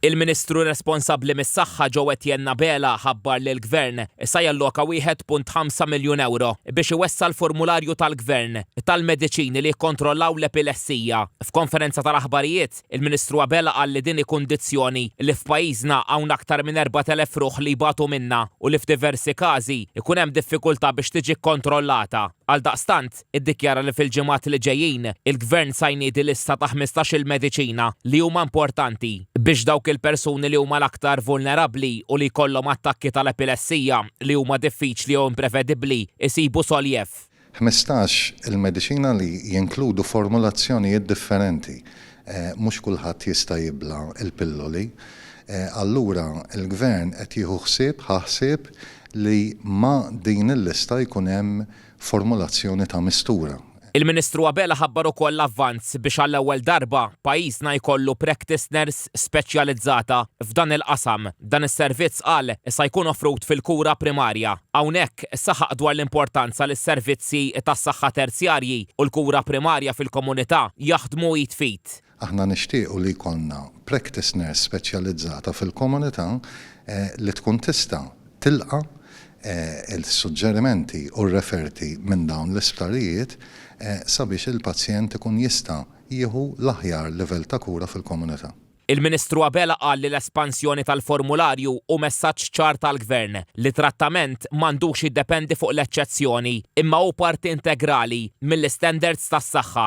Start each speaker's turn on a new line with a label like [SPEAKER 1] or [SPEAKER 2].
[SPEAKER 1] Il-Ministru responsabbli mis-Saħħa Joe Etienne Abela ħabbar li l-Gvern sa jalloka wieħed punt ħamsa miljun ewro biex iwessa' l-formularju tal-Gvern tal-mediċini li jikkontrollaw l-epilessija. F'konferenza tal-aħbarijiet, il-Ministru Abela qal li din hi kundizzjoni li f'pajjiżna hawn aktar minn erbat elef ruħ li jbatu minnha u li f'diversi każi jkun hemm diffikultà biex tiġi kkontrollata. Għaldaqstant, iddikjara li fil-ġimgħat li ġejjin il-Gvern sa jniedi lista ta' ħmistax-il mediċina li huma importanti biex dawk il-persuni li huma l-aktar vulnerabbli u li jkollhom attakki tal-epilessija li huma diffiċli jew imprevedibbli jsibu soljef. Ħmistax
[SPEAKER 2] il-mediċina li jinkludu formulazzjonijiet differenti. Mhux kulħadd jista' jibla' l-pilloli. Allura l-Gvern qed jieħu ħsieb, ħa ħsieb, li ma' din il-lista jkun hemm formulazzjoni ta' mistura. Il-Ministru Abela
[SPEAKER 1] ħabbar ukoll l-avvanz biex għall-ewwel darba pajjiżna jkollu practice nurse speċjalizzata f'dan il-qasam. Dan is-servizz qal sa jkun offrut fil-kura primarja. Hawnhekk saħaq dwar l-importanza li s-servizzi tas-saħħa terzjarji u l-kura primarja fil-komunità jaħdmu id f'id. Aħna nixtiequ
[SPEAKER 2] li jkollna practice nurse speċjalizzata fil-komunità li tkun tista' tilqa' l-suġġerimenti u r-referti minn dawn l-isptarijiet sabiex il-pazjent ikun jista' jieħu l-aħjar livell ta' kura fil-komunità. Il-Ministru Abela
[SPEAKER 1] qal li l-espansjoni tal-formularju hu messaġġ ċar tal-Gvern li trattament m'għandux jiddependi fuq l-eċċezzjoni imma hu parti integrali mill-istandards tas-saħħa.